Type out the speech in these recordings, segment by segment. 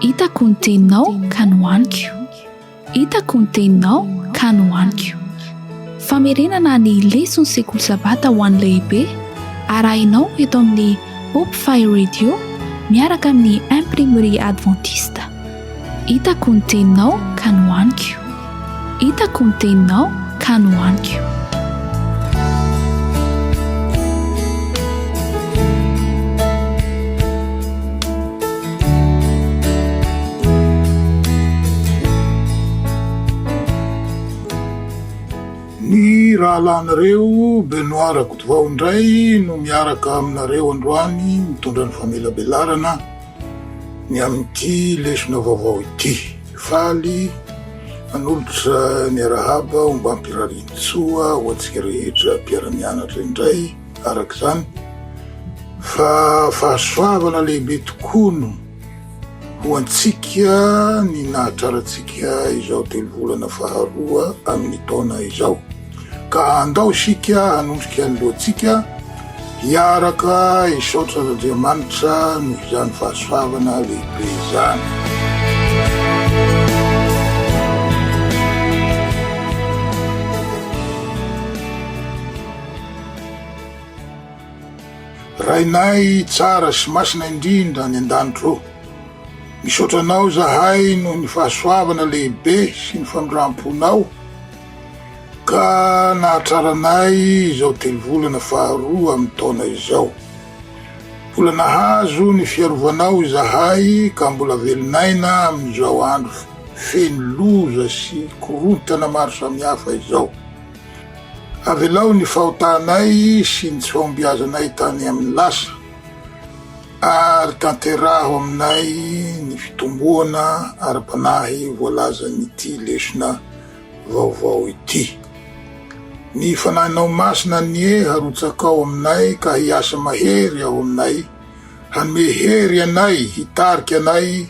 Hitako ny teninao ka nohaniko. Hitako ny teninao ka nohaniko. Famerenana ny leson'ny sekoly sabata ho an'ny lehibe arahinao eto amin'ny Hope Fire Radio miaraka amin'ny Imprimerie Adventiste Hitako ny teninao ka nohaniko Hitako ny teninao ka nohaniko Ny rahalahinareo Benoit Rakotovao indray no miaraka aminareo androany mitondra ny famelabelarana ny amin'ity lesona vaovao ity. Faly hanolotra ny arahaba ombam-pirarian-tsoa ho antsika rehetra mpiara-mianatra indray araka izany fa fahasoavana lehibe tokoa no ho antsika ny nahatrarantsika izao telovolana faharoa amin'ny taona izao. Ka andao isika hanondrika ny lohantsika hiaraka hisaotra an'Andriamanitra noho izany fahasoavana lehibe izany. Rainay tsara sy masina indrindra any an-danitra ô, misaotra Anao izahay noho ny fahasoavana lehibe sy ny famindram-ponao, Ka nahatraranay izao telovolana faharoa amin'ny taona izao. Mbola nahazo ny fiarovanao izahay ka mbola velon'aina amin'izao andro feno loza sy korontana maro samihafa izao. Avelao ny fahotanay sy ny tsy fahombiazanay tany amin'ny lasa, ary tanteraho aminay ny fitomboana ara-panahy voalazan'ity lesona vaovao ity. Ny Fanahinao Masina anie harotsakao aminay ka hiasa mahery ao aminay, hanome hery anay, hitarika anay,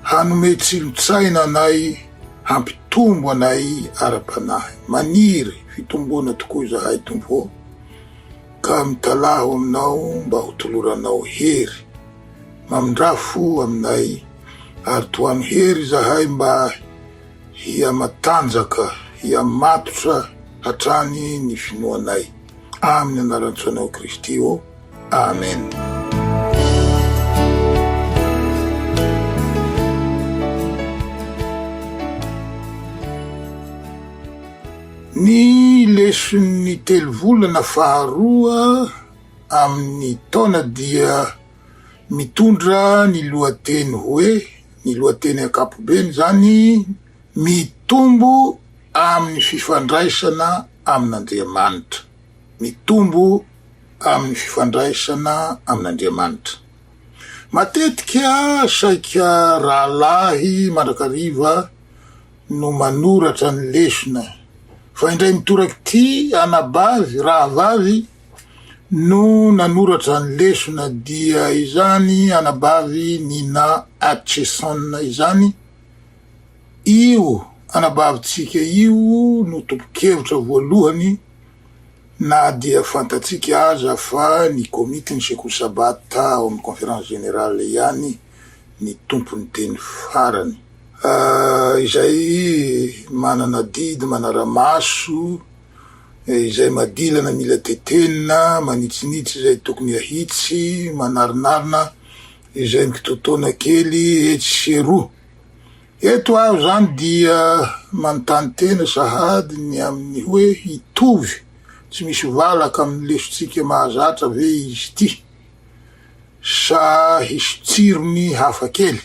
hanome tsilo-tsaina anay, hampitombo anay ara-panahy. Maniry fitomboana tokoa izahay, Tompo ô, ka mitalaho Aminao mba hotoloranao hery. Mamindrà fo aminay, ary tohano hery izahay mba. Hihamatanjaka, hihamatotra hatrany ny finoanay. Amin'ny anaran-tsaonao Kristy ô. Amen. Ny leson'ny telovolana faharoa amin'ny taona dia. Mitondra ny lohateny hoe, ny lohateny ankapobeny izany, Mitombo amin'ny fifandraisana amin'Andriamanitra. Mitombo amin'ny fifandraisana amin'Andriamanitra. Matetika saika rahalahy mandrakariva no manoratra ny lesona, fa indray mitorak'ity anabavy, rahavavy, no nanoratra ny lesona dia izany anabavy Nina Hutcheson izany, io anabavintsika io no tompon-kevitra voalohany na dia fantatsika aza fa ny Komitin'ny Sekoly Sabata ao amin'ny Conférence Générale ihany ny tompon'ny teny farany izay manana didy manara-maso izay madilana mila tetenina, manitsinitsy izay tokony ahitsy, manarinarina izay mikitoatoana kely etsy sy eroa. Eto aho izany dia manontany tena sahady ny amin'ny hoe hitovy tsy misy valaka amin'ny lesontsika mahazatra ve izy ity sa hisy tsirony hafa kely?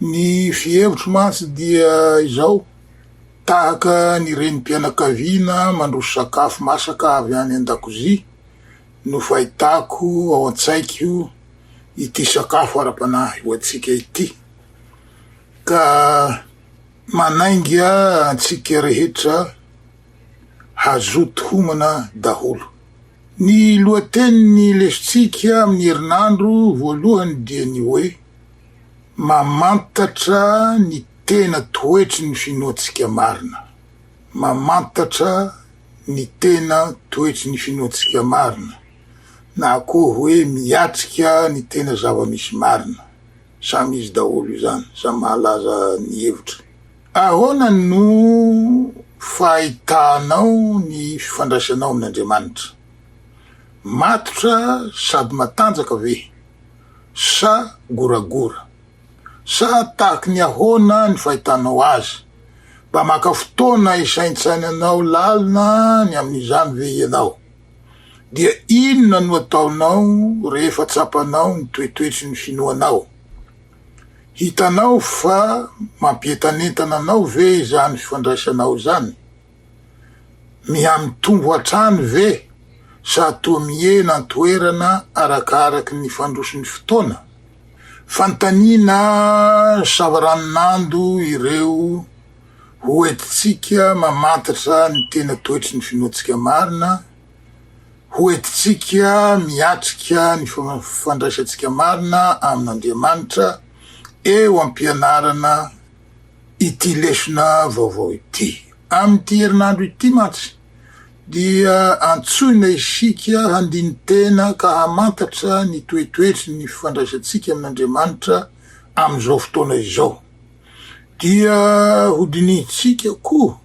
Ny fihevitro mantsy dia izao, tahaka ny renim-pianakaviana mandroso sakafo masaka avy any an-dakozia no fahitako ao an-tsaiko ity sakafo ara-panahy ho antsika ity, ka manainga antsika rehetra hazoto homana daholo. Ny lohatenin'ny lesontsika amin'ny herinandro voalohany dia ny hoe Mamantatra ny tena toetry ny finoantsika marina. Mamantatra ny tena toetry ny finoantsika marina, na koa hoe miatrika ny tena zava-misy marina. Samy izy daholo izany, samy mahalaza ny hevitra. Ahoana no fahitanao ny fifandraisanao amin' Andriamanitra? Matotra sady matanjaka ve, sa goragora? Sa tahaka ny ahoana ny fahitanao azy? Mba maka fotoana hisaintsainanao lalina ny amin' izany ve ianao? Dia inona no ataonao rehefa tsapanao ny toetoetry ny finoanao? Hitanao fa mampientanentana anao ve izany fifandraisanao izany? Mihamitombo hatrany ve sa toa mihena an-toerana arakaraky ny fandrosoan'ny fotoana? Fanontaniana savaranonando ireo hoentintsika mamantatra ny tena toetry ny finoantsika marina. hoentintsika miatrika ny fandraisantsika marina amin'Andriamanitra eo am-pianarana ity lesona vaovao ity. Amin'ity herinandro ity mantsy dia antsoina isika handini-tena ka hamantatra ny toetoetry ny fifandraisantsika amin'Andriamanitra amin'izao fotoana izao. Dia hodinihintsika koa.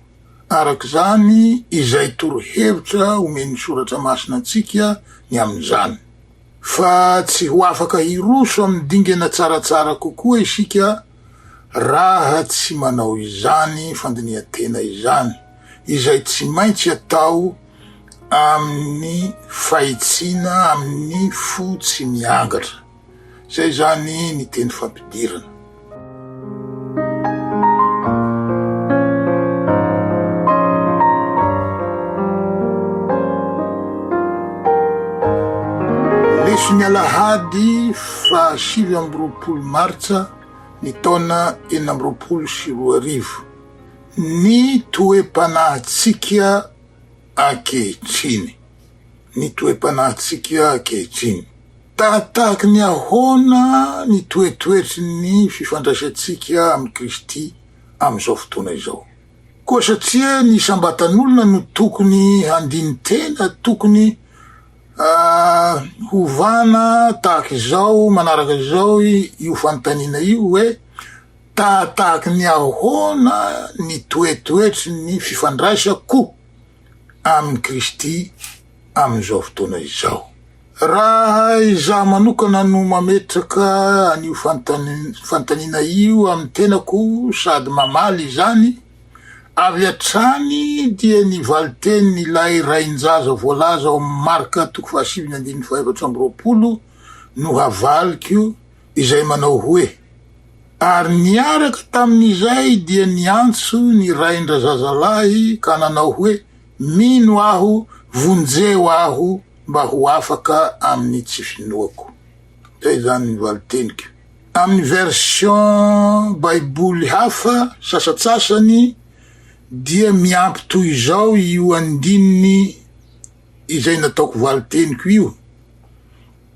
Araka izany, izay torohevitra omen'ny Soratra Masina antsika ny amin'izany, fa tsy ho afaka hiroso amin'ny dingana tsaratsara kokoa isika raha tsy manao izany fandinihan-tena izany, izay tsy maintsy atao amin'ny fahitsiana amin'ny fo tsy miangatra. Izay izany ny teny fampidirana. Lesin'ny alahady faha sivy amby roapolo martsa ny taona enina amby roapolo sy roa arivo ny toe-panahintsika ankehitriny. Ny toe-panahintsika ankehitriny. Tahatahaky ny ahoana ny toetoetry ny fifandraisantsika amin'i Kristy amin'izao fotoana izao? Koa satria ny isam-batan'olona no tokony handini-tena, tokony hovana tahaka izao manaraka izao io fanontaniana io hoe, Tahatahaky ny ahoana ny toetoetry ny fifandraisako amin'i Kristy amin'izao fotoana izao. Raha izaho manokana no mametraka an'io fanontaniana io amin'ny tenako sady mamaly izany, avy hatrany dia ny valin-tenin'ilay rain-jaza voalaza ao amin'ny Marka toko fahasivy ny andininy fahaefatra amby roapolo no havaliko, izay manao hoe, Ary niaraka tamin'izay dia niantso ny rain-drazazalahy ka nanao hoe, Mino aho, vonjeo aho mba ho afaka amin'ny tsy finoako. Izay izany ny valin-teniko. Amin'ny version Baiboly hafa sasantsasany dia miampy toy izao io andininy izay nataoko valin-teniko io,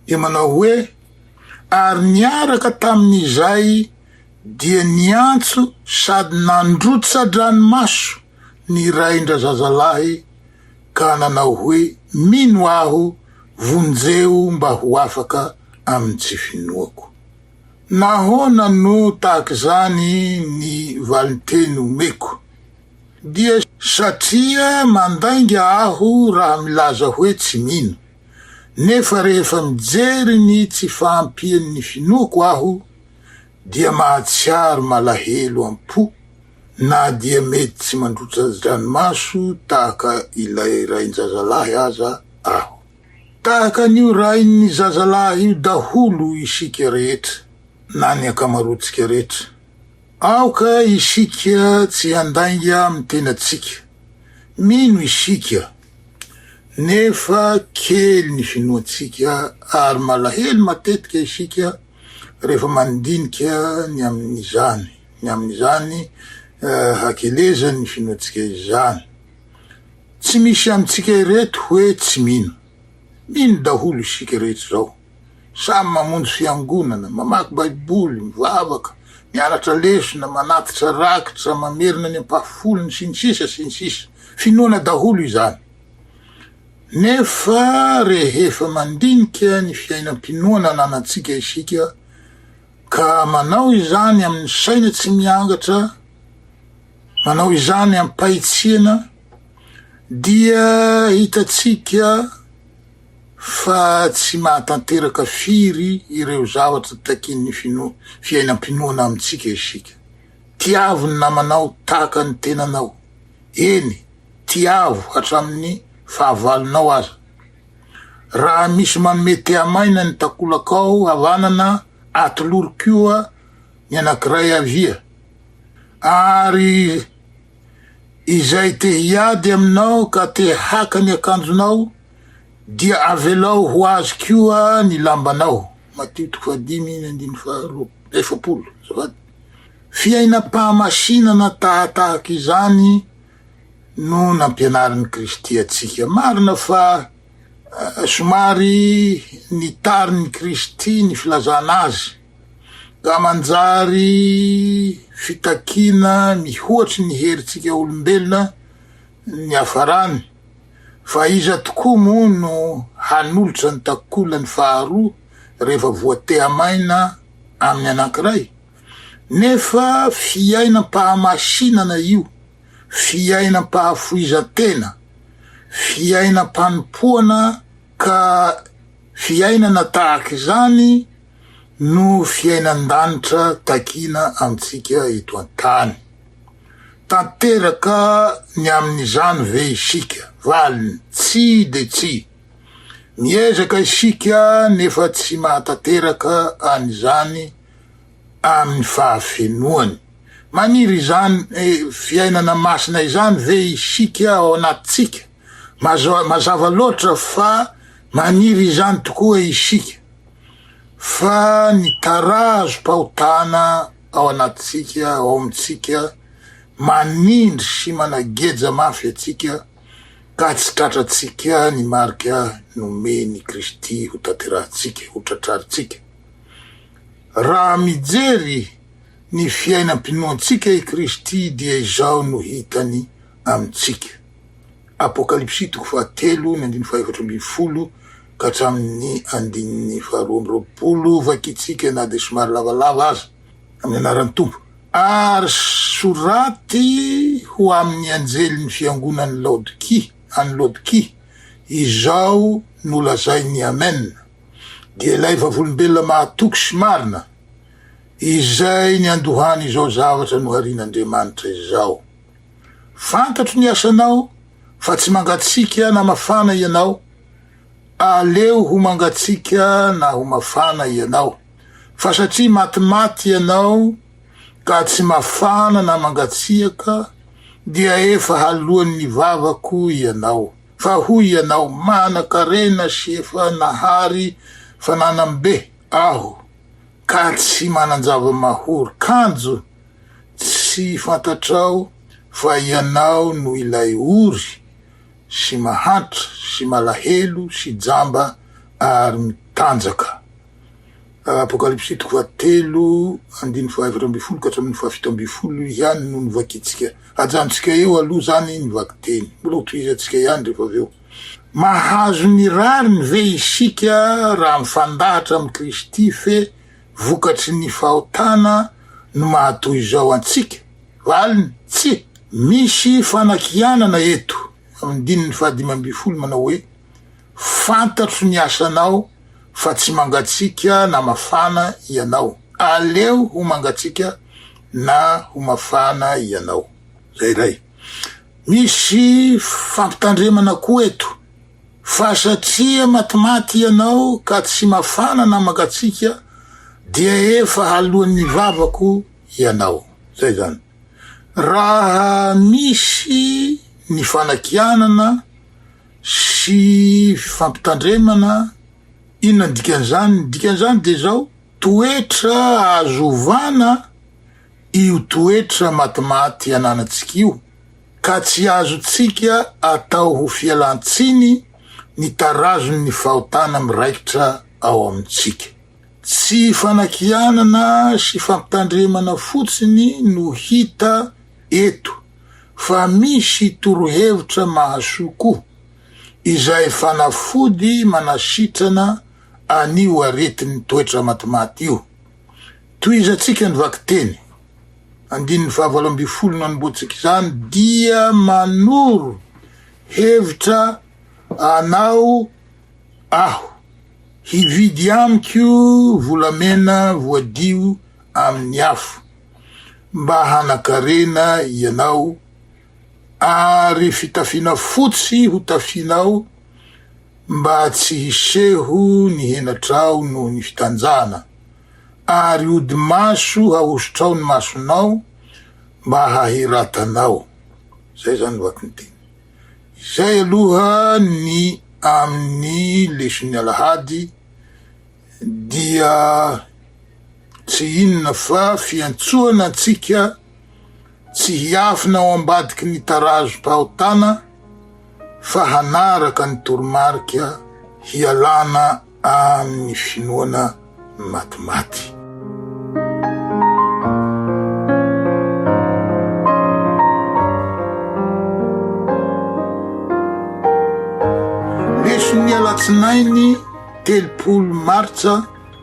dia manao hoe, Ary niaraka tamin'izay dia niantso sady nandrotsa-dranomaso ny rain-drazazalahy ka nanao hoe, Mino aho, vonjeo mba ho afaka amin'ny tsy finoako. Nahoana no tahaka izany ny valinteny omeko? Dia satria mandainga aho raha milaza hoe tsy mino. nefa rehefa mijery ny tsy fahampian'ny finoako aho dia mahatsiaro malahelo am-po na dia mety tsy mandrotsa-dranomaso tahaka ilay rain-jazalahy aza aho. Tahaka an'io rain'ny zazalahy io daholo isika rehetra, na ny ankamaroantsika rehetra. Aoka isika tsy handainga amin'ny tenantsika. Mino isika Nefa kely ny finoantsika ary malahelo matetika isika rehefa mandinika ny amin'izany, ny amin'izany hakelezan'ny finoantsika izany. Tsy misy amintsika ireto hoe tsy mino. Mino daholo isika rehetra izao. Samy mamonjy fiangonana, mamaky Baiboly, mivavaka, mianatra lesona, manatitra rakitra, mamerina ny ampahafolony, sy ny sisa sy ny sisa. Finoana daholo izany. Nefa rehefa mandinika ny fiainam-pinoana ananantsika isika, ka manao izany amin'ny saina tsy miangatra, manao izany amim-pahitsiana, dia hitantsika fa tsy mahatanteraka firy ireo zavatra takian'ny finoa, fiainam-pinoana amintsika isika. Tiavo ny namanao tahaka ny tenanao, eny, tiavo hatramin'ny fahavalonao aza. Raha misy manome tehamaina ny takolakao havanana, atolory koa ny anankiray havia. Ary izay te hiady aminao ka te haka ny akanjonao, dia avelao ho azy koa ny lambanao. Matio toko fahadimy ny andininy faharoa efapolo, azafady. Fiainam-pahamasinana tahatahaka izany no nampianarin'i Kristy antsika. Marina fa somary nitarin'i Kristy ny filazana Azy, ka manjary fitakiana mihoatry ny herintsika olombelona, Niafarany, fa iza tokoa moa no hanolotra ny takolany faharoa rehefa voateha-maina amin'ny anankiray? Nefa fiainam-pahamasinana io, fiainam-pahafoizan-tena, fiainam-panompoana ka fiainana tahaka izany no fiainan-danitra takiana amintsika eto an-tany. Tanteraka ny amin'izany ve isika? Valiny, Tsia dia tsia. Miezaka isika nefa tsy mahatanteraka an'izany amin'ny fahafenoany. Maniry izany fiainana masina izany ve isika ao anatintsika? Mazava loatra fa maniry izany tokoa isika, fa ny tarazom-pahotana ao anatintsika, ao amintsika, manindry sy manageja mafy antsika ka tsy tratrantsika ny marika nomen' i Kristy hotanterahintsika, hotratrarintsika. Raha mijery ny fiainam-pinoantsika i Kristy dia izao no hitany amintsika, Apokalypsy toko fahatelo ny andininy fahaefatra ambin'ny folo, ka hatramin'ny andininy faharoa amby roapolo, vakitsika na dia somary lavalava aza, amin'ny anaran'ny Tompo. Ary soraty ho amin'ny anjelin'ny fiangonan'i Laodikia, any Laodikia, izao no lazain'ny Amen, dia ilay vavolombelona mahatoky sy marina, izay niandohany izao zavatra noharian'Andriamanitra izao, Fantatro ny asanao, fa tsy mangatsiaka na mafana ianao, Aleo ho mangatsiaka na ho mafana ianao, fa satria matimaty ianao ka tsy mafana na mangatsiaka, dia efa haloan'ny vavako ianao. Fa hoy ianao, 'Manan-karena sy efa nahary fananam-be aho, ka tsy manan-java-mahory kanjo. Tsy fantatrao fa ianao no ilay ory? sy mahantra sy malahelo sy jamba ary mitanjaka. Apokalypsy toko fahatelo andininy fahaefatra ambin'ny folo ka hatramin'ny fahafito ambin'ny folo ihany no novakintsika. Ajanontsika eo aloha izany ny vakiteny, mbola hotohizantsika ihany rehefa avy eo. Mahazo ny rariny ve isika raha mifandahatra amin'i Kristy fe vokatry ny fahotana no maha toy izao antsika? Valiny, Tsy misy fanakianana eto. Amin'ny dininy fahadimy ambin'ny folo manao hoe, Fantatro ny asanao fa tsy mangatsiaka na mafana ianao. Aleo ho mangatsiaka na ho mafana ianao. Izay iray. Misy fampitandremana koa eto, fa satria matimaty ianao ka tsy mafana na mangatsiaka dia efa haloan'ny vavako ianao. Zay zany. Raha misy ny fanakianana sy fifampitandremana, inona ny dikan'izany? Ny dikan'izany dia izao, toetra azo ovana io toetra matimaty ananantsika io, ka tsy azontsika atao ho fialan-tsiny ny tarazon'ny fahotana miraikitra ao amintsika. Tsy fanakianana sy fampitandremana fotsiny no hita eto fa misy torohevitra mahasoa koa, izay fanafody manasitrana an'io aretin'ny toetra matimaty io. Tohizantsika ny vakiteny andininy fahavalo ambin'ny folo nanombohantsika izany dia manoro hevitra anao. aho hividy amiko volamena voadio amin'ny afo, mba hanakarena ianao, ary fitafiana fotsy hotafianao, mba tsy hiseho ny henatrao noho ny fitanjahana, ary odi-maso hahosotrao ny masonao, mba hahiratanao. Izay izany ny vakiny teny. Izay aloha ny amin'ny leson'ny alahady dia tsy inona fa fiantsoana antsika tsy hiafina ao ambadiky ny tarazom-pahotana fa hanaraka ny toromarika hialana Amin' ny finoana ny maty maty. Lefin' ny alatsinainy telopolo martsa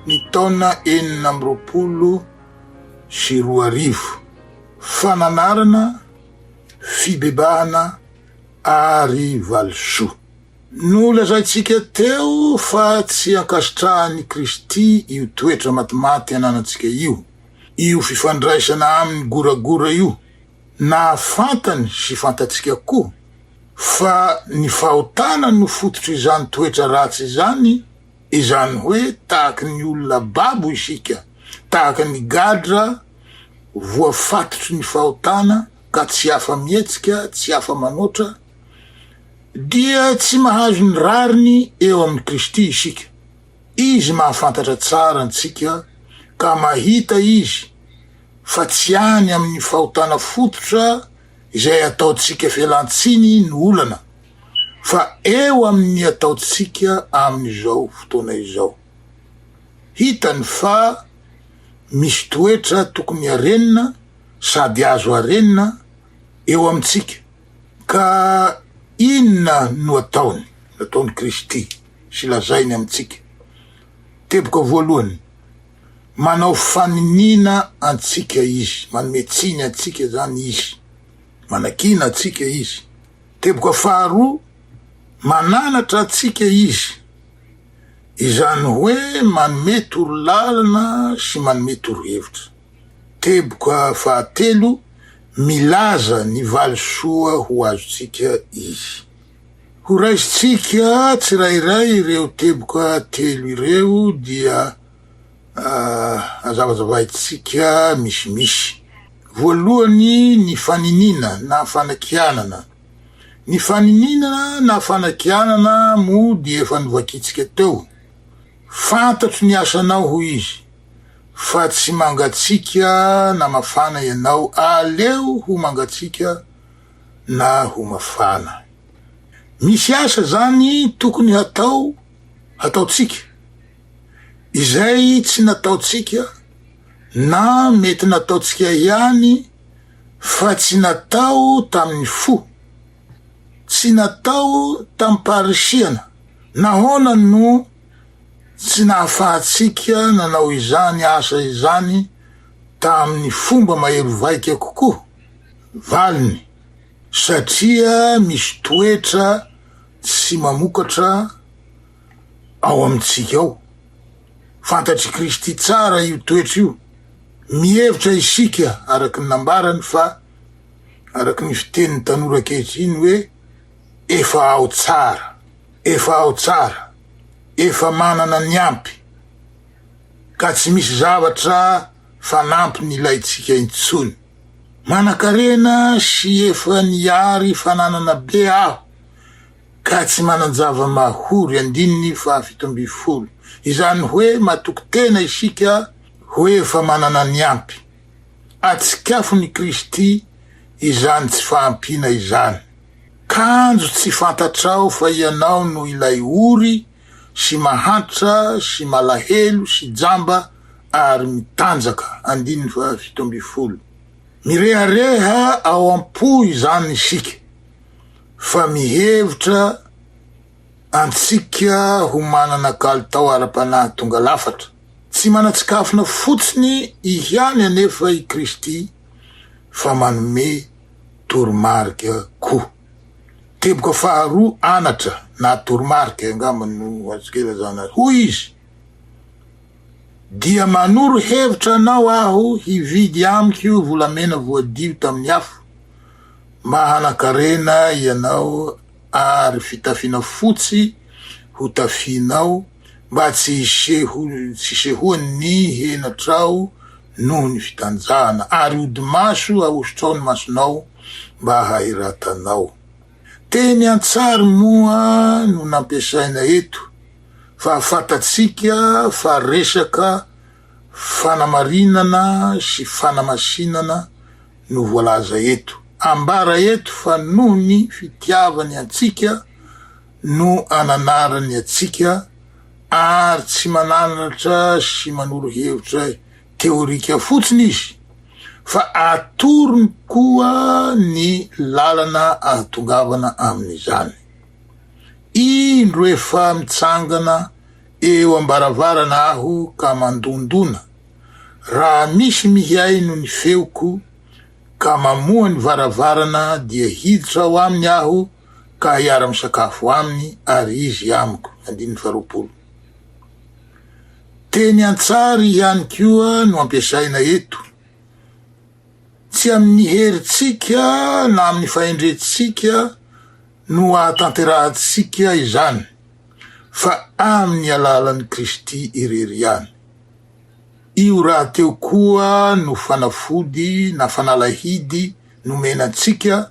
ny taona enina amby roapolo sy roa arivo, fananarana, fibebahana ary valisoa. Nolazaintsika teo fa tsy ankasitrahan'i Kristy io toetra matimaty ananantsika io, io fifandraisana aminy goragora io, na fantany sy fantatsika koa fa ny fahotana no fototr'izany toetra ratsy izany, izany hoe tahaka ny olona babo isika, tahaka ny gadra voafatotry ny fahotana ka tsy afa-mihetsika, tsy afa-manoatra, dia tsy mahazo ny rariny eo amin'i Kristy isika. Izy mahafantatra tsara antsika ka mahita Izy fa tsy any amin'ny fahotana fototra izay ataontsika fialan-tsiny no olana, fa eo amin'ny ataontsika amin'izao fotoana izao. Hitany fa misy toetra tokony harenina sady azo harenina eo amintsika. Ka inona no ataony, nataon'i Kristy sy lazainy amintsika? Teboka voalohany, manao faniniana antsika Izy, manome tsiny antsika izany Izy, manakiana antsika Izy. Teboka faharoa, mananatra antsika Izy, izany hoe manome torolalana sy manome torohevitra. Teboka fahatelo, Milaza ny valisoa ho azontsika izy. Horaisintsika tsirairay ireo teboka telo ireo dia hazavazavaintsika misimisy. Voalohany, ny faniniana na fanakianana. Ny faniniana na fanakianana moa dia efa novakintsika teo. Fantatro ny asanao, hoy izy. fa tsy mangatsiaka na mafana ianao, aleo ho mangatsiaka na ho mafana. Misy asa izany tokony hatao, hataontsika. Izay tsy nataontsika na mety nataontsika ihany fa tsy natao tamin'ny fo, tsy natao tamim-paharisihana. Nahoana no. Tsy nahafahantsika nanao izany asa izany tamin'ny fomba mahery vaika kokoa? Valiny, Satria misy toetra tsy mamokatra ao amintsika ao. Fantatr'i Kristy tsara io toetra io. Mihevitra isika, araka ny nambarany, fa, araka ny fitenin'ny tanora ankehitriny, hoe efa ao tsara. Efa ao tsara, efa manana ny ampy ka tsy misy zavatra fanampiny ilaintsika intsony. Manankarena sy efa nihary fananana be aho ka tsy manan-java-mahory, andininy fahafito ambin'ny folo. Izany hoe matoky tena isika ho efa manana ny ampy. Atsikafon'i Kristy izany tsy fahampiana izany. Kanjo tsy fantatrao fa ianao no ilay ory sy mahantra sy malahelo sy jamba ary mitanjaka. Andininy faha fito ambin'ny folo. Mirehareha ao am-po izany isika fa mihevitra antsika ho manana kalitao ara-panahy tonga lafatra. Tsy manan-tsikafona fotsiny ihany anefa i Kristy fa manome. toromarika koa. Teboka faharoa anatra na toromarika angamba no azoko ilazana azy. Hoy izy, Dia manoro hevitra anao aho hividy amiko volamena voadio tamin'ny afo, mba hanan-karena ianao, ary fitafiana fotsy ho tafianao mba tsy hisehoan' ny henatrao noho ny fitanjahana, ary hodi-maso ahosotrao ny masonao mba hahiratanao. Teny an-tsary moa no nampiasaina eto fa fantatsika fa resaka fanamarinana sy fanamasinana no voalaza eto. Ambara eto fa noho ny fitiavany antsika no ananarany antsika ary tsy mananatra sy manoro hevitra teorika fotsiny izy fa atorony koa ny lalana ahatongavana amin'izany. Indro efa mitsangana Eo am-baravarana aho ka mandondona, raha misy mihaino ny feoko ka mamoha ny varavarana dia hiditra ao aminy aho ka hiara-misakafo aminy ary izy amiko. Andininy faharoapolo. Teny an-tsary ihany koa no ampiasaina eto. Tsy amin'ny herintsika na amin'ny fahendrentsika. no hahatanterahantsika izany fa amin'ny alalan'i Kristy irery ihany. Io rahateo koa no fanafody na fanalahidy nomena antsika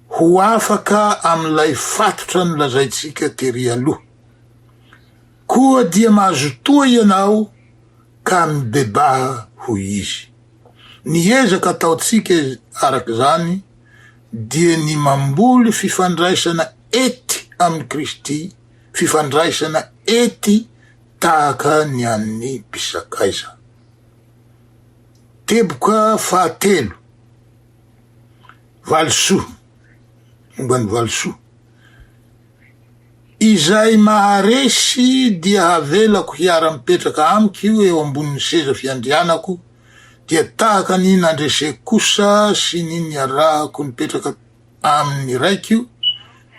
ho afaka amin'ilay fatotra nolazaintsika tery aloha. Koa dia mazotoa ianao ka mibebaha hoy Izy. Ny ezaka ataontsika araka izany dia ny mamboly fifandraisana ety amin'i Kristy, fifandraisana ety tahaka ny an'ny mpisakaiza. Teboka fahatelo, valisoa, momba ny valisoa. Izay maharesy dia havelako hiara-mipetraka amiko io eo ambonin'ny seza fiandrianako, dia tahaka ny nandreseko kosa sy ny niarahako nipetraka amin'ny Raiko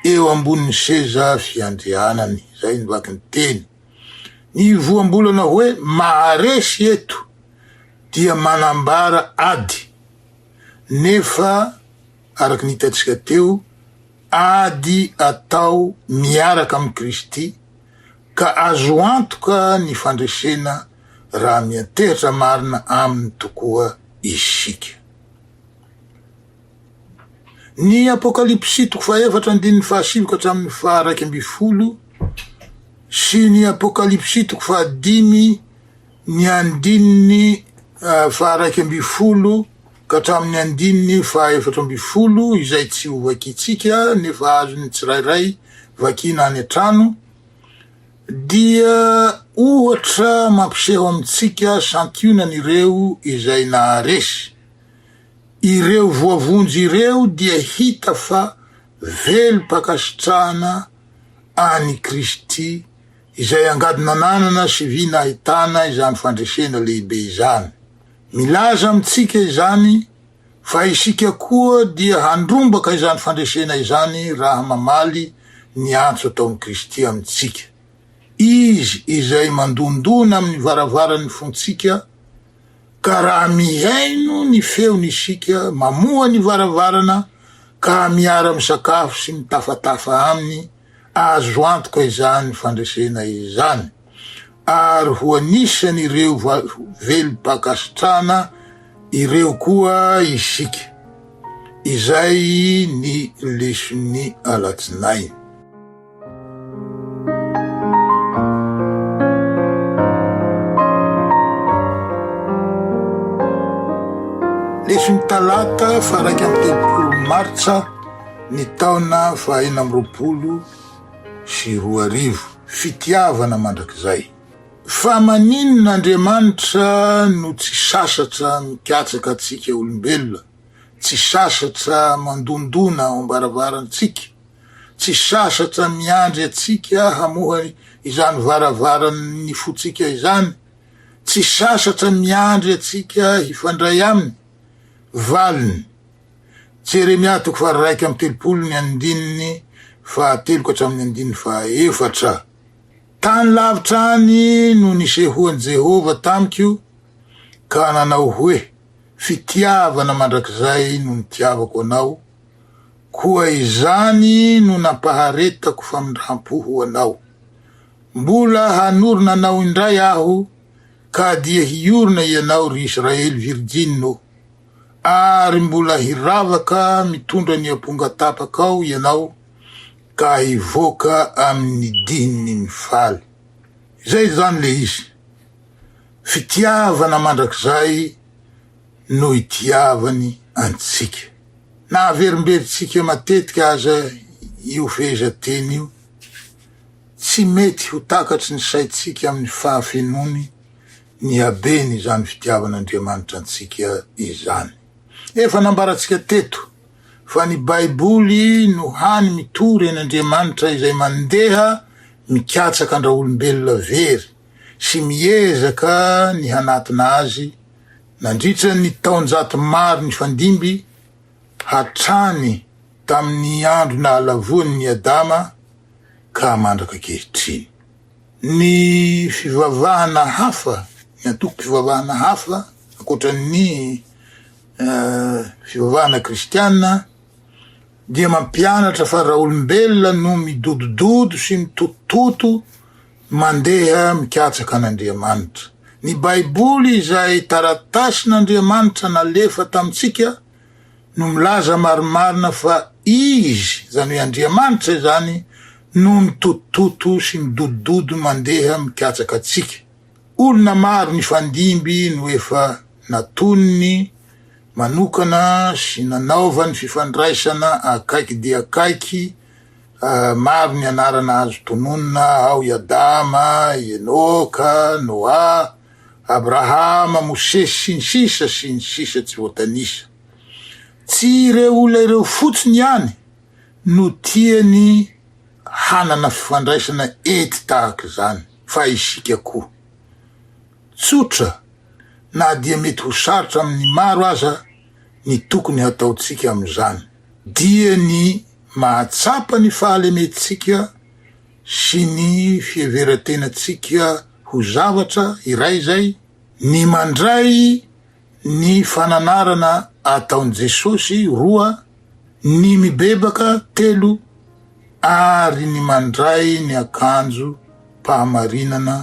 eo ambonin'ny seza fiandrianany. Izay no vaky ny teny. Ny voambolana hoe maharesy eto dia manambara ady, nefa. araka ny hitantsika teo, ady atao miaraka amin'i Kristy, ka azo antoka ny fandresena raha miantehitra marina Aminy tokoa isika. Ny Apokalypsy toko fahaefatra andininy fahasivy ka hatramin'ny faharaika ambin'ny folo sy ny Apokalypsy toko fahadimy Ny andininy faha-iraika ambin'ny folo ka hatramin'ny andininy faha-efatra ambin'ny folo izay tsy ho vakintsika nefa azon'ny tsirairay vakiana any an-trano dia ohatra mampiseho amintsika santionany ireo izay naharesy. Ireo voavonjy ireo dia hita fa velom-pankasitrahana an'i Kristy izay angady nananana sy vy nahitana izany fandresena lehibe izany. Milaza amintsika izany fa isika koa dia handrombaka izany fandresena izany raha mamaly ny antso ataon'i Kristy amintsika. Izy izay mandondona amin'ny varavaran'ny fontsika, ka raha mihaino ny feony isika, mamoha ny varavarana ka miara-misakafo sy mitafatafa Aminy Azo antoka izany fandresena izany ary ho anisan'ireo velom-pankasitrahana ireo koa isika. Izay ny leson'ny alatsinainy. Leson'ny talata faha iraika amby telopolo martsa. Ny taona fahaenina amby roapolo sy roa arivo, fitiavana mandrakizay. Fa maninona Andriamanitra no tsy sasatra mikatsaka antsika olombelona, tsy sasatra mandondona ao am-baravarantsika, tsy sasatra miandry antsika hamoha izany varavaran'ny fontsika izany, tsy sasatra miandry antsika hifandray Aminy? Valiny, Jeremia toko faharaika amby telopolo ny andininy fahatelo ka hatramin'ny andininy fahaefatra. Tany lavitra any no nisehoan'i Jehovah tamiko ka nanao hoe, Fitiavana mandrakizay no nitiavako anao, koa izany no nampaharetako famindram-po ho anao. Mbola hanorina anao indray aho, ka dia hiorina ianao, ry Israely virjiny ô! Ary mbola hiravaka mitondra ny amponga tapaka ao ianao ka hivoaka amin' ny dihiny mifaly. Izay izany ilay izy. Fitiavana mandrakizay no itiavany antsika. Na averimberintsika matetika aza io fehezanteny io, tsy mety ho takatry ny saintsika amin' ny fahafenoany. ny habeny izany fitiavan'Andriamanitra antsika izany. Efa nambarantsika teto fa ny Baiboly no hany mitory an'Andriamanitra izay mandeha mikatsaka an-dRaolombelona very sy miezaka ny hanatona azy nandritra ny taonjato maro nifandimby hatrany tamin'ny andro nahalavoan'i Adama ka mandrak'ankehitriny. Ny fivavahana hafa, ny antokom-pivavahana hafa ankoatran'ny fivavahana kristiana dia mampianatra fa raha olombelona no midodododo sy mitotototo mandeha mikatsaka an'Andriamanitra. Ny Baiboly izay taratasin'Andriamanitra nalefa tamintsika no milaza marimarina fa Izy, izany hoe Andriamanitra izany, no mitototo sy midodododo mandeha mikatsaka antsika. Olona maro nifandimby no efa natoniny manokana sy nanaovany fifandraisana akaiky dia akaiky, maro ny anarana azo tononina ao i Adama, i Enoka, Noa, Abrahama, Mosesy, sy ny sisa sy ny sisa tsy voatanisa. Tsy ireo olona ireo fotsiny ihany no tiany hanana fifandraisana ety tahaka izany fa isika koa. Tsotra na dia mety ho sarotra amin'ny maro aza ny tokony hataontsika amin'izany dia ny mahatsapa ny fahalementsika sy ny fiheveran-tenantsika ho zavatra iray izay, ny mandray ny fananarana ataon'i Jesosy, roa, ny mibebaka, telo, ary ny mandray ny akanjom-pahamarinana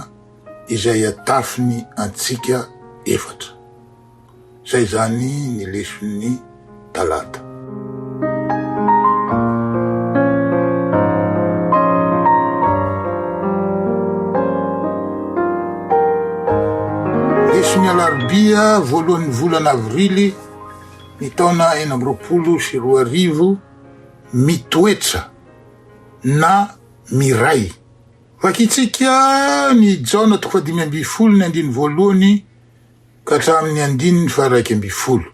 izay atafiny antsika, efatra. Izay izany ny leson'ny talata. Leson'ny alarobia voalohan'ny volana avrily ny taona enina amby roapolo sy roa arivo, Mitoetra na miray. Vakintsika ny Jaona toko fahadimy ambin'ny folo ny andininy voalohany. ka hatramin'ny andininy faharaika ambin'ny folo.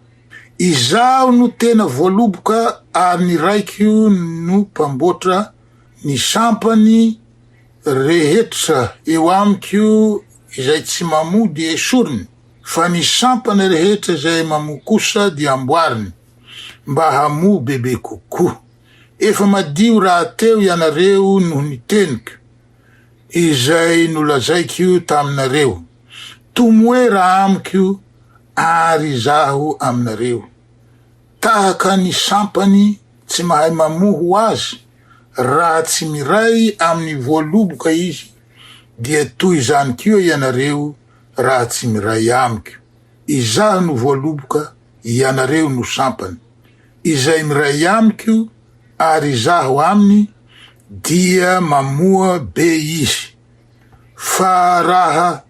Izaho no tena voaloboka ary ny raiko no mpamboatra ny sampany rehetra eo amiko izay tsy mamoa dia esoriny fa ny sampany rehetra izay mamoa kosa dia amboariny mba hamoa bebe kokoa. Efa madio rahateo ianareo noho ny teniko. izay nolazaiko taminareo, Tomoera amiko àry izaho aminareo, tahaka ny sampany tsy mahay mamoho azy, raha tsy miray amin'ny voaloboka izy, dia toy izany koa ianareo raha tsy miray amiko. Izaho no voaloboka, Ianareo no sampany. Izay miray amiko ary Izaho aminy, dia mamoa be izy. Fa raha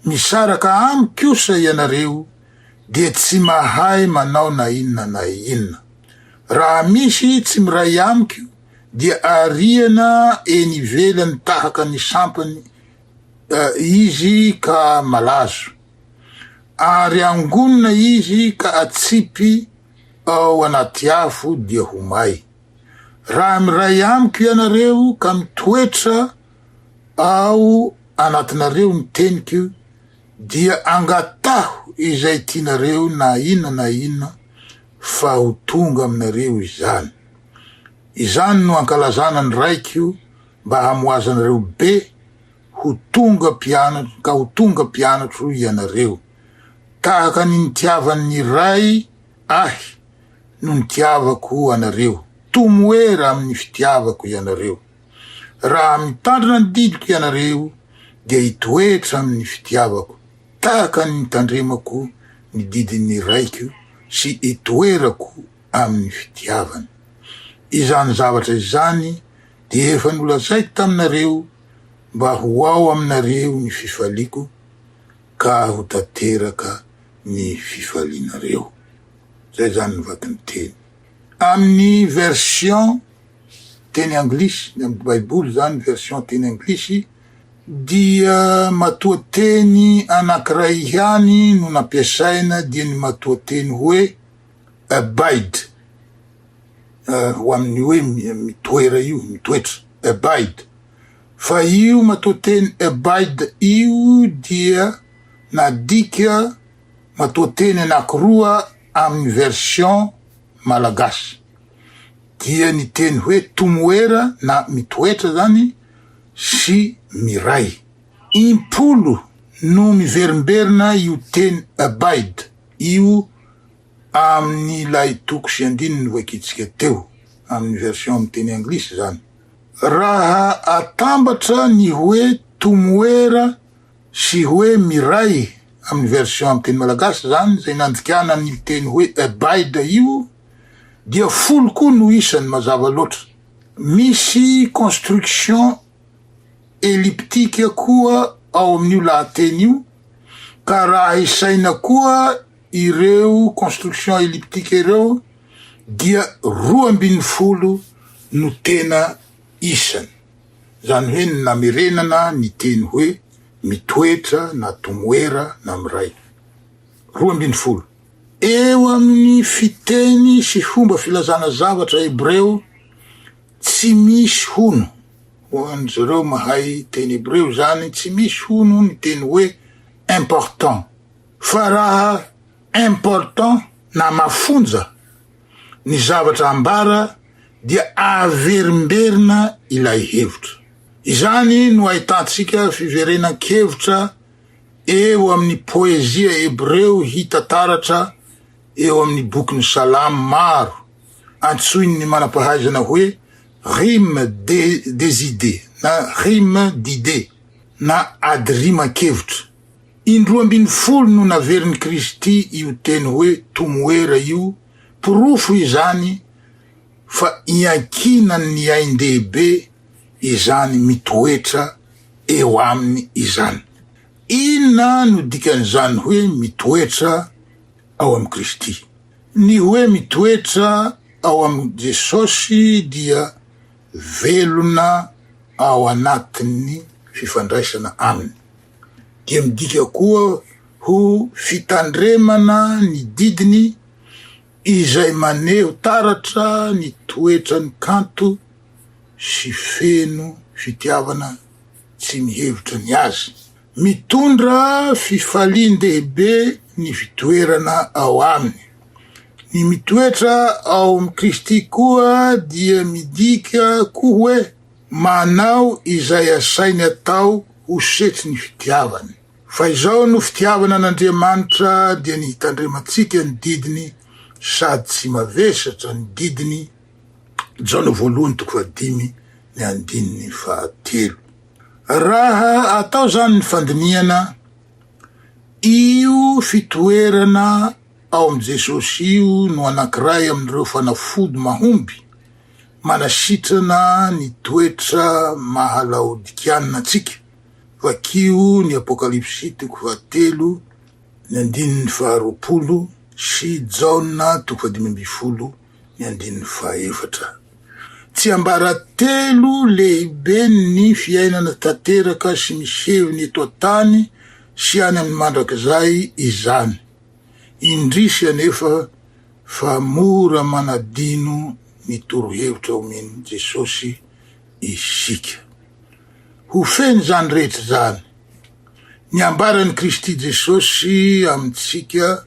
misaraka Amiko kosa ianareo, dia tsy mahay manao na inona na inona. Raha misy tsy miray Amiko, dia ariana eny ivelany tahaka ny sampany izy ka malazo. Ary angonina izy ka atsipy ao anaty afo dia ho may. Raha miray amiko ianareo ka mitoetra ao anatinareo ny teniko, dia angataho izay tianareo na inona na inona, fa ho tonga aminareo izany. Izany no ankalazana ny Raiko mba hamoazanareo be, Ho tonga mpianatro, ka ho tonga mpianatro ianareo. Tahaka ny nitiavan' ny Ray Ahy no nitiavako anareo, tomoera amin' ny fitiavako ianareo. Raha mitandrina ny didiko ianareo, dia hitoetra amin' ny fitiavako, tahaka ny nitandremako ny didin' ny Raiko sy itoerako amin' ny fitiavany. Izany zavatra izany dia efa nolazaiko taminareo, mba ho ao aminareo ny fifaliako ka ho tanteraka ny fifalianareo. Izay zany ny vakin'ny teny. Amin'ny version teny anglisy, ny amin'ny baiboly zany version teny anglisy, dia matoateny anankiray ihany no nampiasaina dia ny matoateny hoe, Abide, ho amin'ny hoe mitoera io, mitoetra, abide, fa io matoanteny abide io dia nadika matoanteny anankiroa amin'ny version malagasy, dia ny teny hoe tomoera na mitoetra izany sy miray. Impolo no miverimberina io teny abide. Io amin' ilay toko sy andininy novakiantsika teo, amin' ny version amin' ny teny anglisy izany. Raha atambatra ny hoe tomoera sy hoe miray amin' ny version amin' ny teny malagasy izany, izay nandikana an' io teny hoe abide io, dia folo koa no isany, mazava loatra. Misy construction. eliptika koa ao amin'io lahateny io, ka raha isaina koa ireo construction eliptika ireo dia roa ambin'ny folo no tena isany, izany hoe ny namerenana ny teny hoe mitoetra na tomoera na miray. Roa ambin'ny folo. Eo amin'ny fiteny sy fomba filazana zavatra hebreo Tsy misy hono, ho an'izareo mahay teny hebreo izany, tsy misy hono ny teny hoe important. Fa raha important na mafonja ny zavatra ambara dia averimberina ilay hevitra. Izany no ahitantsika fiverenan-kevitra eo amin'ny poezia hebreo hita taratra eo amin' ny Bokin'ny Salamo maro, antsoin' ny manam-pahaizana hoe rime de des idées na rime d'idées na ady riman-kevitra. Indroa ambin'ny folo no naverin'i Kristy io teny hoe tomoera io, porofo izany fa iankinan' ny ain-dehibe izany mitoetra eo aminy izany. Inona no dikan'izany hoe mitoetra ao amin'i Kristy. Ny hoe mitoetra ao amin'i Jesosy dia velona ao anatin'ny fifandraisana Aminy, dia midika koa ho fitandremana ny didiny izay maneho taratra ny toetrany kanto sy feno fitiavana tsy mihevitra ny azy. Mitondra fifalian-dehibe ny fitoerana ao Aminy. Ny mitoetra ao amin'i Kristy koa dia midika koa hoe manao izay asainy atao ho setry ny fitiavany. Fa izao no fitiavana an'Andriamanitra, dia ny hitandremantsika ny didiny sady tsy mavesatra ny didiny, Jaona voalohany toko fahadimy ny andininy fahatelo. Raha atao izany ny fandinihana io fitoerana ao amin'i Jesosy io no anankiray amin'ireo fanafody mahomby manasitrana ny toetra maha-laodikiana antsika, vakio ny Apokalypsy toko fahatelo ny andininy faharoapolo sy Jaona toko fahadimy ambin'ny folo. Ny andininy fahaefatra. Tsiambaratelo lehibe ny fiainana tanteraka sy misehony eto an-tany sy any amin'ny mandrakizay izany. Indrisy anefa fa mora manadino ny torohevitra omen'i Jesosy isika. Ho feno izany rehetra izany ny ambaran'i Kristy Jesosy amintsika.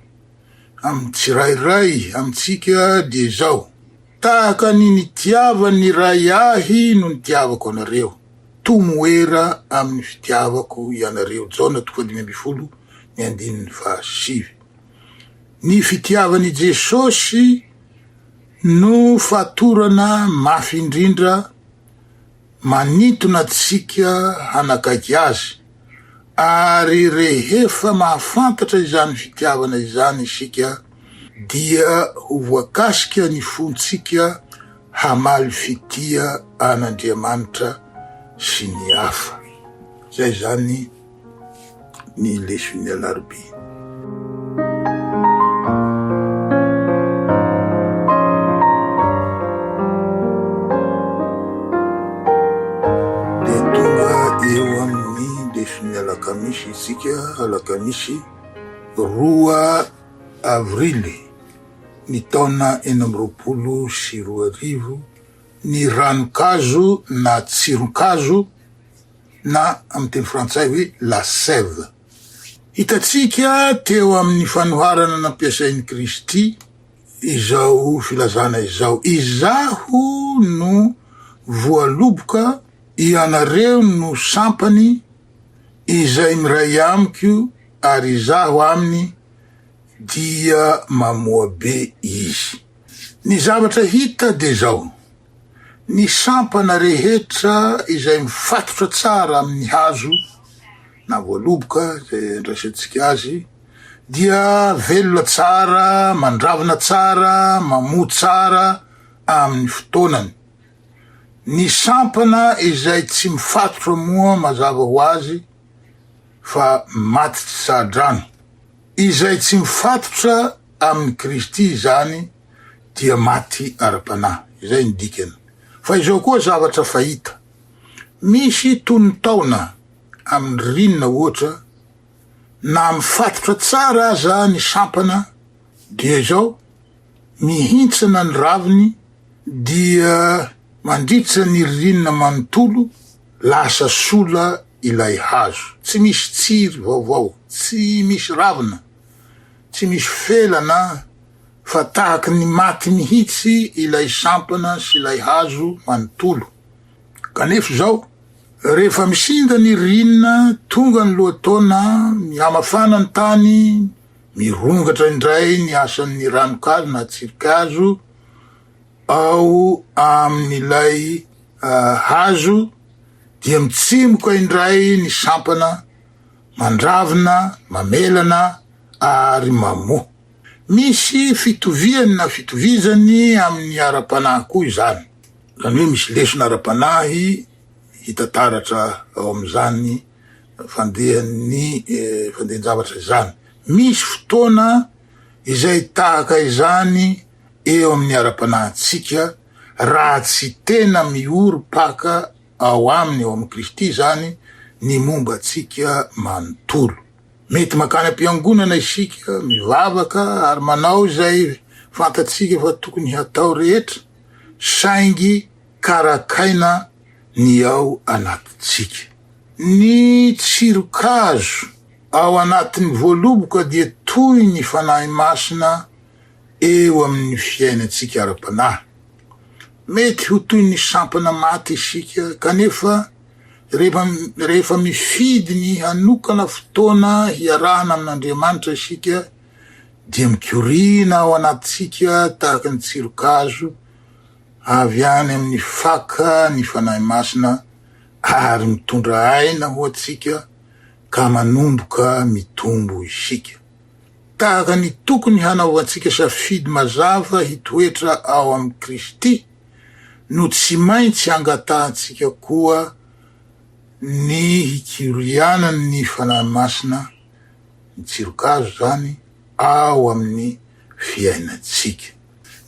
amin'ny tsirairay amintsika dia izao, Tahaka ny nitiavan'ny Ray ahy no nitiavako anareo, tomoera amin'ny fitiavako ianareo, Jaona toko fahadimy ambin'ny folo ny andininy fahasivy. Ny fitiavan'i Jesosy no fatorana mafy indrindra, Manintona antsika hanakaiky Azy, ary rehefa mahafantatra izany fitiavana izany isika, dia ho voakasika ny fontsika hamaly fitia an'Andriamanitra sy ny hafa. Izay izany. ny leson'ny alarobia. alakamisy isika alakamisy roa avrily ny taona enina amby roapolo sy roa arivo ny ranokazo na tsironkazo na amin'ny teny frantsay hoe la sève. Hitantsika teo amin'ny fanoharana nampiasain'i Kristy izao filazana izao, Izaho no voaloboka, ianareo no sampany, izay miray amiko ary izaho aminy dia mamoa be izy. Ny zavatra hita dia izao. Ny sampana rehetra izay mifatotra tsara amin' ny hazo na voaloboka, izay andraisantsika azy, dia velona tsara, mandravina tsara, mamoa tsara amin' ny fotoanany. Ny sampana izay tsy mifatotra moa mazava ho azy fa maty tsy saha-drano. Izay tsy mifatotra amin' i Kristy izany dia maty ara-panahy. Izay ny dikany. Fa izao koa zavatra fahita. Misy tonon-taona amin'ny ririnina ohatra, na mifatotra tsara aza ny sampana, dia izao, mihintsana ny raviny, dia mandritra ny ririnina manontolo, lasa sola ilay hazo. Tsy misy tsiry vaovao, tsy misy ravina, tsy misy felana. Fa tahaka ny maty mihitsy ilay sampana sy ilay hazo manontolo. Kanefa izao, rehefa misinda ny ririnina, tonga ny lohataona, mihamafana ny tany, mirongatra indray ny asan'ny ranonkazo na tsirikazo ao amin'ilay hazo, dia mitsimoka indray ny sampana, mandravina, mamelana ary mamoa. Misy fitoviany na fitovizany amin'ny ara-panahy koa izany, izany hoe misy lesona ara-panahy hita taratra ao amin'izany fandehan'ny fandehan-javatra izany. Misy fotoana izay tahaka izany eo amin'ny ara-panahintsika raha tsy tena miorim-paka ao aminy, ao amin'i Kristy izany, ny momba antsika manontolo. Mety mankany am-piangonana isika, mivavaka ary manao izay fantatsika fa tokony hatao rehetra, saingy karakaina ny ao anatintsika. Ny tsiron-kazo ao anatin'ny voaloboka dia toy ny Fanahy Masina eo amin'ny fiainantsika ara-panahy. Mety ho toy ny sampana maty isika, kanefa, Rehefa mifidy ny hanokana fotoana hiarahana amin'Andriamanitra isika, dia mikoriana ao anatintsika tahaka ny tsiron-kazo avy any amin'ny faka ny Fanahy Masina, ary mitondra aina ho antsika, ka manomboka mitombo isika. Tahaka ny tokony hanaovantsika safidy mazava hitoetra ao amin'i Kristy, no tsy maintsy angatahantsika koa ny hikorianan' ny Fanahy Masina, ny tsirokazo izany, ao amin' ny fiainantsika.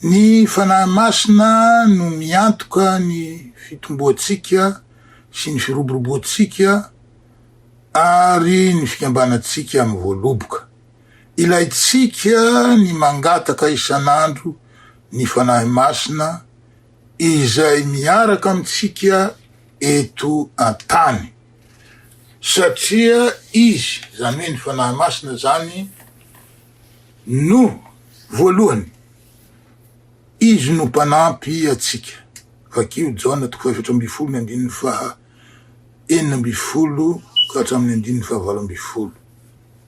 Ny Fanahy Masina no miantoka ny fitomboantsika sy ny firoboroboantsika ary ny fikambanantsika mivoaloboka. Ilaintsika ny mangataka isan'andro ny Fanahy Masina izay miaraka amintsika eto an-tany, satria Izy, izany hoe ny Fanahy Masina izany, no voalohany, Izy no mpanampy antsika. Vakio Jaona toko fahefatra ambin'ny folo ny andininy faha. enina ambin'ny folo ka hatramin'ny andininy fahavalo ambin'ny folo.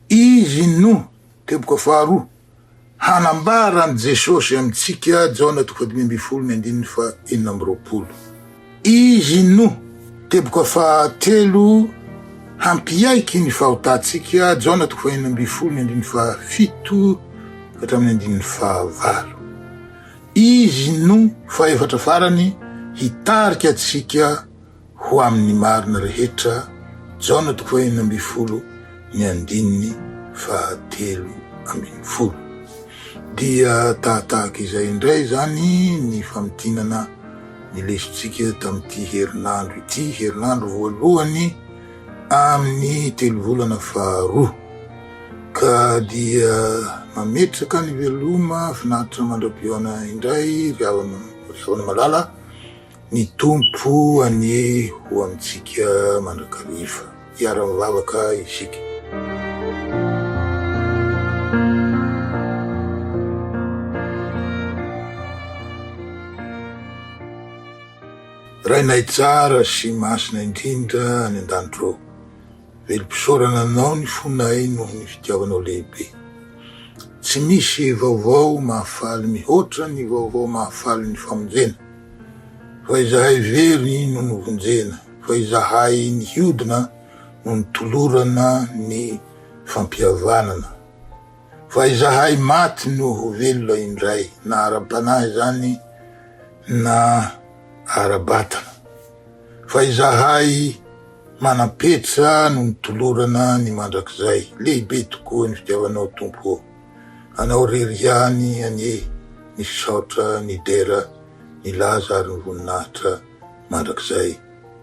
Izy no, teboka faharoa, hanambara an'i Jesosy amintsika, Jaona toko fahadimy ambin'ny folo ny andininy fahenina amby roapolo. Izy no, teboka fahatelo, hampiaiky ny fahotantsika, Jaona toko fahenina ambin'ny folo ny andininy fahafito ka hatramin'ny andininy fahavalo. Izy no fahefatra farany hitarika antsika ho amin'ny marina rehetra, Jaona toko fahenina ambin'ny folo ny andininy fahatelo ambin'ny folo. Dia tahatahaka izay indray izany ny famintinana ny lesontsika tamin'ity herinandro ity, herinandro voalohany amin'ny telovolana faharoa, ka dia mametraka ny veloma finaritra mandra-pihaona indray ry havana ry havana malala ny Tompo anie ho amintsika mandrakariva. Hiara-mivavaka isika. Rainay tsara sy masina indrindra any an-danitro ao, velom-pisaorana Anao ny fonay noho ny fitiavanao lehibe. Tsy misy vaovao mahafaly mihoatra ny vaovao mahafaly ny famonjena, fa izahay very no novonjena, fa izahay nihodina no nitolorana ny fampihavanana. Fa izahay maty no ho velona indray, na ara-panahy izany na ara-batana. Fa izahay manam-petra no mitolorana ny mandrakizay. Lehibe tokoa ny fitiavanao, Tompo ô! Anao irery ihany anie ny fisaotra, ny dera, ny laza ary ny voninahitra mandrakizay.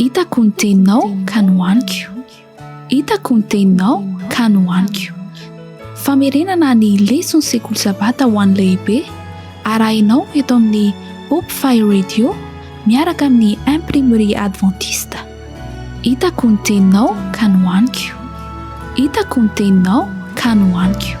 Hitako ny teninao ka nohaniko Hitako ny teninao ka nohaniko Famerenana ny leson'ny sekoly Sabata ho an'ny lehibe arahinao eto amin'ny Hope Fire Radio miaraka amin'ny Imprimerie Adventiste. Hitako ny teninao ka nohaniko Hitako ny teninao ka nohaniko